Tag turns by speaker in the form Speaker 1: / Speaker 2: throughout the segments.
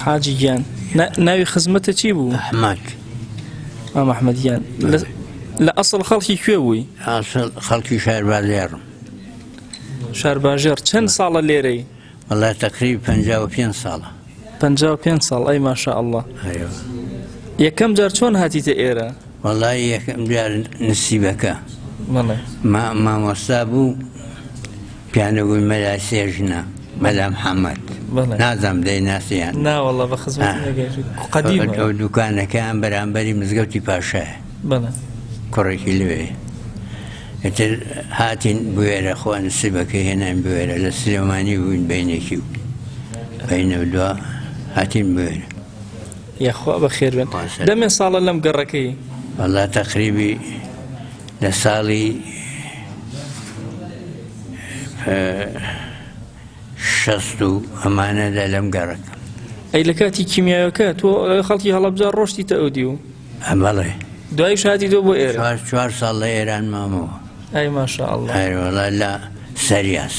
Speaker 1: حاجی گیان ناوی خزمەتە چی بوو ئەحمد
Speaker 2: ئەم
Speaker 1: ئەحمد گیان لە ئەسڵ خەڵکی کوێ بووی خەڵکی
Speaker 2: شار بازێڕم
Speaker 1: شار باژێڕ چەند ساڵە لێرەی وڵای تەکری
Speaker 2: پ پێ ساڵە پ پێ
Speaker 1: ساڵ ئەی ماشاء الله یەکەم جار چۆن هاتیتە ئێرە وڵی یەکەم
Speaker 2: جار نسیبەکە
Speaker 1: مامۆستا
Speaker 2: بوو پێیان دەگوت مەلا سێژنە، مەلا محەمەد. بەڵێ. نازانم دەیناسی یان نا. نا وەڵڵا بە خزمەتی آه.
Speaker 1: نەگەیشت. قەدیمە. ئەو ئەو دوکانەکەیان
Speaker 2: بەرامبەری مزگەوتی پاشایە. بەڵێ.
Speaker 1: کوڕێکی
Speaker 2: لەوێ. ئیتر هاتین بوێرە خوا نسیبەکەی هێناین بوێرە لە سلێمانی بووین بەینێکی و بەینە و دوا هاتین بوێرە. یاخوا
Speaker 1: بەخێر بن. باشە. دەمێ ساڵە لەم گەڕەکەی. وەڵڵا تەقریبی
Speaker 2: لە ساڵی شەست و ئەمانەدا لەم گەڕەکە ئەی لە کاتی
Speaker 1: کیمیاوەکە تۆ خەڵکی هەڵەبجار ڕۆشتی تە ئەودی و ئەمەڵێ
Speaker 2: دوای شادی
Speaker 1: دۆ بۆ ئێرە چوار ساڵ لە ئێران
Speaker 2: مامەوە ئەی ماشاء
Speaker 1: الله هەروەڵا لە
Speaker 2: سەریاس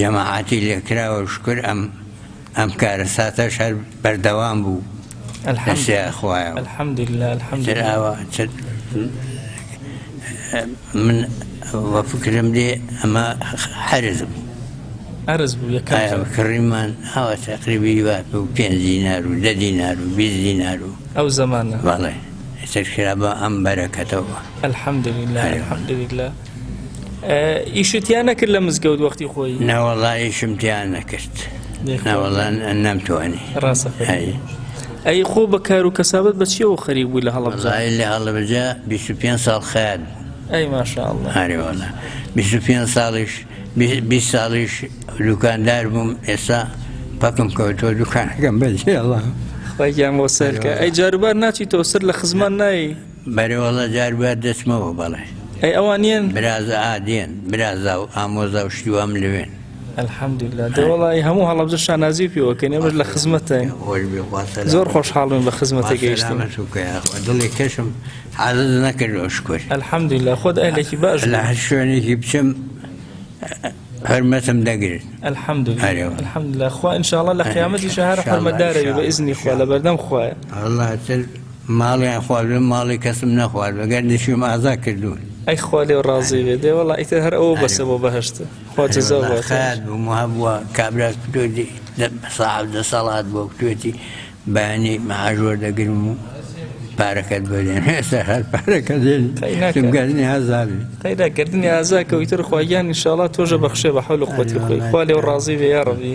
Speaker 2: جەماعەتی لێکراوە شوکر ئەم ئەم کارەساتەش هەر بەردەوام بوو لەسێ خوایە
Speaker 1: تر ئاوا
Speaker 2: من وە فکرم دێ ئەمە حەرز بوو ئەرز
Speaker 1: بوو کڕیمان ئاوا
Speaker 2: تقریبی وا و پێ دینار و دە دینار و بی دینار و ئەو زمانە بەڵێ سەرخرا بە ئەم بەرەکەتەوە الحمد لله
Speaker 1: الحمد لله ئیشت تیا نەکرد لە مزگەوت وەختی خۆی ناوەڵا ئیشم
Speaker 2: تیا نەکرد ناوەڵان نامتوانی
Speaker 1: ڕاستە ئەی خۆ بە کار و کەسابەت بەچیەوە خەریک بووی لە هەڵبزای لە هەڵبجە
Speaker 2: 25 ساڵ خەیات ئەی ماشاءله
Speaker 1: هەرێوەڵە
Speaker 2: 25 ساڵیش 20 ساڵیش دوکاندار بووم ئێستا پەکم کەوتۆ دوکانەکەم بەجێڵە خۆیان بۆ
Speaker 1: سەرکە ئەی جاروبار ناچی تۆ سەر لە خزمان نایی بەرێ وەڵا جار
Speaker 2: بوار دەچمەوە بەڵێ. ئەی ئەوان نیەن؟
Speaker 1: برازا ئا دێن
Speaker 2: برازا و ئامۆزا و شتی وام لەوێن. الحمدللە
Speaker 1: دە وەڵای هەموو هەڵەبجە شانازی پێوە بکەین ئێمەش لە خزمەتتاین زۆر خۆشحاڵبووین بە خزمەتە گەیشتن دڵی
Speaker 2: کەشم حازت نەکردەوە شکر الحمدللە خۆت
Speaker 1: ئەهلێکی باش لە هەر شوێنێکی
Speaker 2: بچم هەرمەتم دەگرن الحمدللە
Speaker 1: خوا انشاءڵە لە قیامەتی شەهر حرمەدارەوی بە ئزنی خوا لە بەردەم خوایە
Speaker 2: ماڵیان خواردووە ماڵی کەسم نەخواردووە گەر دژیم ئازا کردوون. ئەی خوا لێو
Speaker 1: ڕازی بێت. دێ وەڵا ئیتر هەر ئەوە بەسە بۆ بەهەشت. خوا جەزا باتەوە. ئەرێ وەڵا خەیات بووم وابووە
Speaker 2: کابراک کردووەتی ساحەب دە ساڵات بووە کتووەتی بەیانی مەعاش وەردەگرم و پارەکەت بۆ دێنم ئێستا هەر پارەکە دێنی تم گەردنی ئازا بێ قەینا گەردنی ئازا
Speaker 1: کە ئیتر خوا گیان انشاءاللە تۆشە بەخشێ بە حەول و قوەتی خۆی خوا لێو ڕازی بێ یاڕەبی.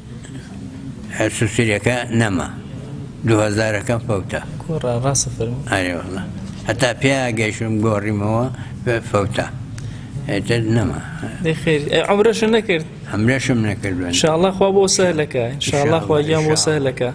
Speaker 2: هەرچ سریەکە نەما دوهەزارەکە فەوتا کوڕە ڕاستە فەرموو
Speaker 1: ئەرێ والله
Speaker 2: هەتا پێ گەیشتم گۆڕیمەوە بە فەوتا ئێتر نەما دەی خێری ئەی
Speaker 1: عەمرەشم نەکرد ئەمرەشم نەکردوە
Speaker 2: ان شاء الله خوا بۆ
Speaker 1: سەهلەکە ان شاء الله خوا گیان بۆ سەهلەکە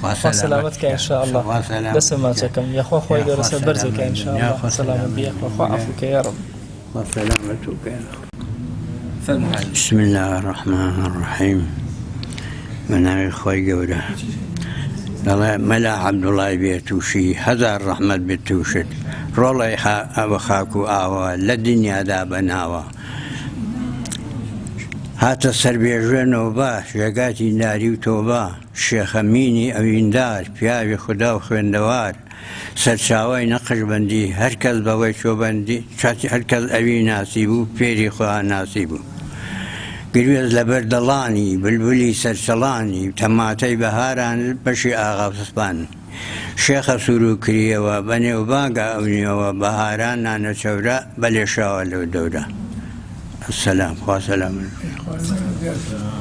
Speaker 1: خوا سەلامەت کا ان شاء اللە
Speaker 2: بەسە ماچەکەم یەخوا خوای گەورە سەر بەرزت کا ان شاء اللە سەلامەت بی یەخوا خوا عەفوو کە یارەبی. بسم اللە الرحمن الرحیم بەناوی خوای گەورە دەڵێ مەلا عەبدوڵای بێ تووشی هەزار ڕەحمەت بێت تووشت ڕۆڵی ئەوە خاک و ئاوە لە دنیادا بەناوە هاتە سەربێژێنەوە بە ژێگاتی ناری و تۆبە شێخ ئەمینی ئەویندار، پیاوی خودا و خوێندەوار، سەرچاوەی نەقشبەندی، هەر کەس بەوەی چووە بەندی، هەر کەس ئەوی ناسیبوو، فێری خواناسی بوو. گروێز لە بەر دەڵانی، بلبلی سەرچڵانی، تەماتەی بەهاران، بەشی ئاغا سپانی. شێخە سوورو کریەوە، بە نێوبانگا ئەو نیوەوە، بەهاران نانە چەورە، بە لێشاوە لەو دەورە. السلام. خوا سەلامت بکا.